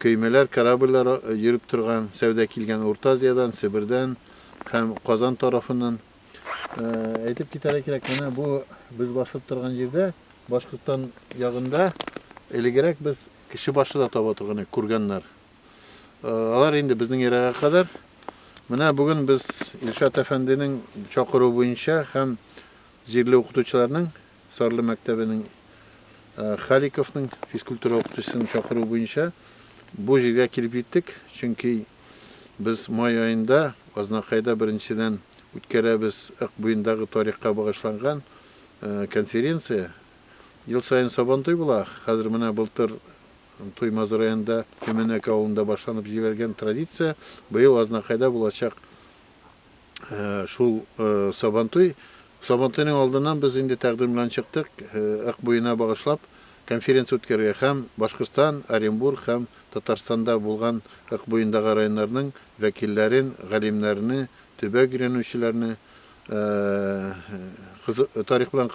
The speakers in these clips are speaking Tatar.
Көймәләр, корабльләр йөреп торган, сәүдә килгән Урта Азиядән, Себердән һәм Казан тарафыннан. Әйтеп китәргә кирәк, менә бу без басып торган җирдә, Башкортстан ягында элегрәк без кеше башы да таба торган идек, курганнар. Алар инде безнең эрага кадәр. Менә бүген без Илшат әфәнденең чакыруы буенча һәм җирле укытучыларның Сарлы мәктәбенең Халиковның физкультура укытучысын чакыру буенча бу җиргә килеп җиттек, чөнки без май аенда Азнакайда беренчедән үткәрәбез Ык буендагы тарихка багышланган конференция. Ел саен Сабантуй була, хәзер менә былтыр Туймазы районында Төмәнәк авылында башланып җибәргән традиция быел Азнакайда булачак. Шул Сабантуй. Сабантуйның алдыннан без инде тәкъдим белән чыктык, Ык буена багышлап конференция үткәрергә һәм Башкортстан, Оренбург һәм Татарстанда булган Ык буендагы районнарның вәкилләрен, галимнәрне, төбәк өйрәнүчеләрне, тарих белән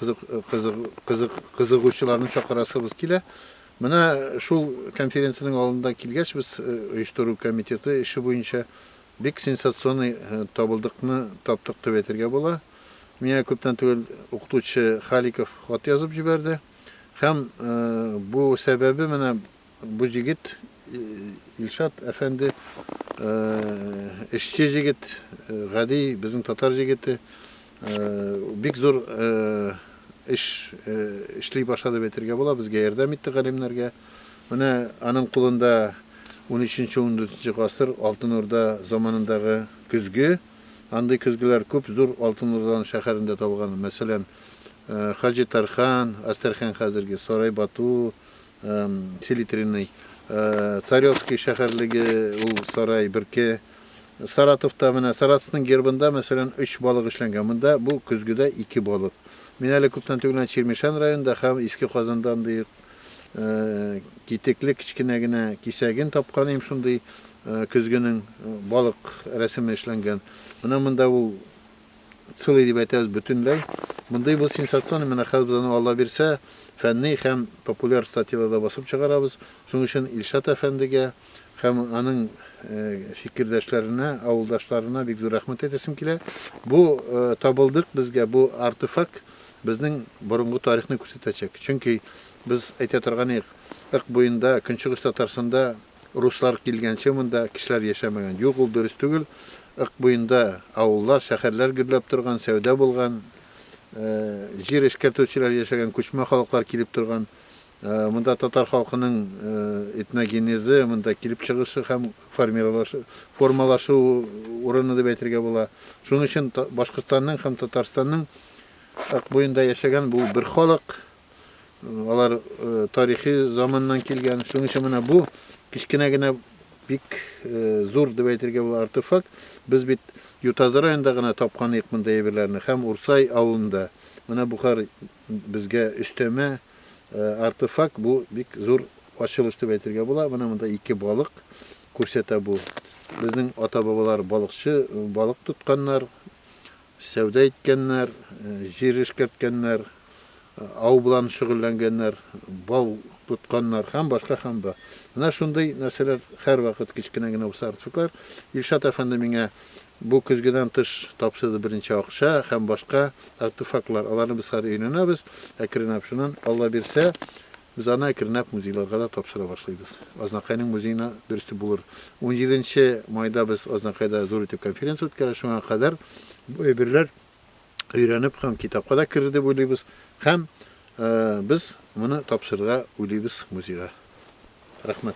кызыгучыларны чакырасыбыз килә. Менә шул конференциянең алдында килгәч, без оештыру комитеты эше буенча Бик сенсационный табылдыкны таптык дип әйтергә була. Миңа күптән түгел укытучы Халиков хат язып җибәрде. Һәм бу сәбәбе менә бу җегет, Илшат әфәнде, эшче җегет, гади безнең татар җегете, бик зур эш эшли башлады дип әйтергә була, безгә ярдәм итте галимнәргә. Менә аның кулында унөченче-ундүртенче гасыр Алтын Урда заманындагы көзге. Андый көзгеләр күп зур Алтын Урданың шәһәрендә табылган. Мәсәлән, Хаҗи Тархан, Әстерхан хәзерге, Сарай Бату, Селитренный, Царевский шәһәрлеге ул сарай берке. Саратовта менә Саратовның гербында, мәсәлән, өч балык эшләнгән. Монда бу көзгедә ике балык. Мин әле күптән түгел Чирмешән районында һәм Иске Казанда андый китекле кечкенә генә кисәген тапкан идем, шундый көзгенең балык рәсеме эшләнгән. Менә монда ул целый дип әйтәбез бөтенләй. Мондый бу сенсационный, менә хәзер без аны Алла бирсә, фәнни һәм популяр статьяларда басып чыгарабыз. Шуның өчен Илшат әфәндегә һәм аның фикердәшләренә, авылдашларына бик зур рәхмәт әйтәсем килә. Бу табылдык безгә, бу артефакт Безнең борынгы тарихны күрсәтәчәк. Чөнки без әйтә торган идек, Ык буенда, Көнчыгыш Татарстанда руслар килгәнче монда кешеләр яшәмәгән. Юк, ул дөрес түгел. Ык буенда авыллар, шәһәрләр гөрләп торган, сәүдә булган, җир эшкәртүчеләр яшәгән, күчмә халыклар килеп торган. Монда татар халкының этногенезы, монда килеп чыгышы һәм формалашу урыны дип әйтергә була. Шуның өчен Башкортстанның һәм Татарстанның Ак буенда яшәгән бу бер халык, алар тарихи заманнан килгән. Шуның өчен менә бу кечкенә генә бик зур дип әйтергә була артефакт. Без бит Ютазы районында гына тапкан идек мондый әйберләрне һәм Урсай авылында. Менә бу хәл безгә өстәмә. Артефакт бу бик зур ачылыш дип әйтергә була. Менә монда ике балык күрсәтә бу. Безнең ата-бабалар балыкчы, балык тотканнар, сәүдә иткәннәр, җир эшкәрткәннәр, ау белән шөгыльләнгәннәр, бал тотканнар һәм башка һәм ба. Менә шундый нәрсәләр һәрвакыт кечкенә генә булса артефактлар. Илшат әфәнде миңа Бу көзгедән тыш тапшырды беренче акча һәм башка артефактлар. Аларны без хәзер өйрәнәбез, әкренләп. Шуннан, Алла бирсә, без аны әкренләп музейларга да тапшыра башлыйбыз. Азнакайның музеена дөресте булыр. Унҗиденче майда без Азнакайда зур итеп конференция үткәрәбез. Шуңа кадәр бу әйберләр өйрәнеп һәм китапка да керер дип уйлыйбыз. Һәм без моны тапшырырга уйлыйбыз музейга. Рәхмәт.